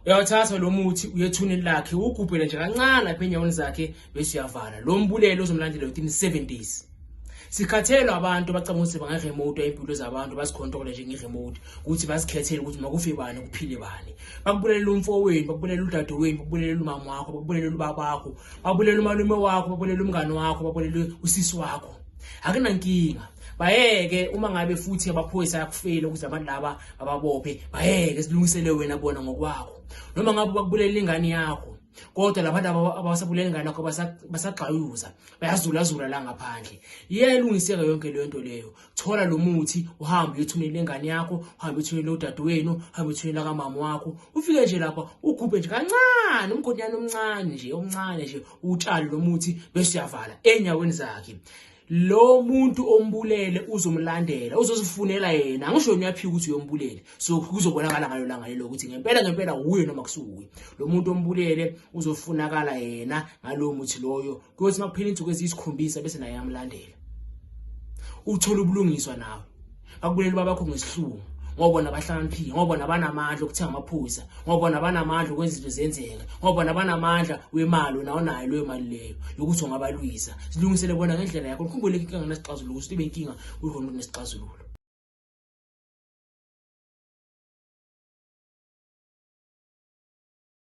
uyawuthatha lo muthi uyethuneni lakhe ugubhele nje kancane apha enyaweni zakhe bese uyavala lo mbulelo uzomlandela within 7 days sikhathelwa abantu abacabanga ukuthi bangaremote impilo zabantu basikhontrole nje ngeremote ukuthi basikhethele ukuthi makufe bani kuphile bani bakubulele umfowenu bakubulele udadewenu bakubulele umama wakho bakubulele ubaba wakho bakubulele umalume wakho bakubulele umngane wakho bakubulele usisi wakho akunankinga bayeke uma ngabe futhi abaphoyisa yakufela ukuze abantu laba bababophe bayeke silungisele wena bona ngokwakho noma ngabe bakubulela ingane yakho kodwa labantu abasabulela ingane yakho basagxayuza bayazulazula la ngaphandle iyayilungiseka yonke leyo nto leyo thola lo muthi uhambe uyothumela ingane yakho uhambe uthumela udadewenu uhambe uthumela kamama wakho ufike nje lapha ukhuphe nje kancane umgonyana omncane nje omncane nje utshale lo muthi bese uyavala enyaweni zakhe lo muntu ombulele uzomlandela uzozifunela yena angisho nyaphika ukuthi uyombulele so kuzobonakala ngalo langa lelo ukuthi ngempela ngempela uye noma kusukuye lo muntu ombulele uzofunakala yena ngalowo muthi loyo kuyothi makuphela insuku eziyisikhombisa bese naye amlandela uthola ubulungiswa nawe bakuleli babakho ngesihlungu ngoba bona bahlakaniphile ngoba bona banamandla okuthenga amaphuza ngoba bona banamandla okwenza izinto zenzeka ngoba bona banamandla wemali wena onayo leyo mali leyo yokuthi ungabalwisa silungisele bona ngendlela yakho likhumbule inkinga nginasixazululo ukuthi ibe inkinga kulona kunesixazululo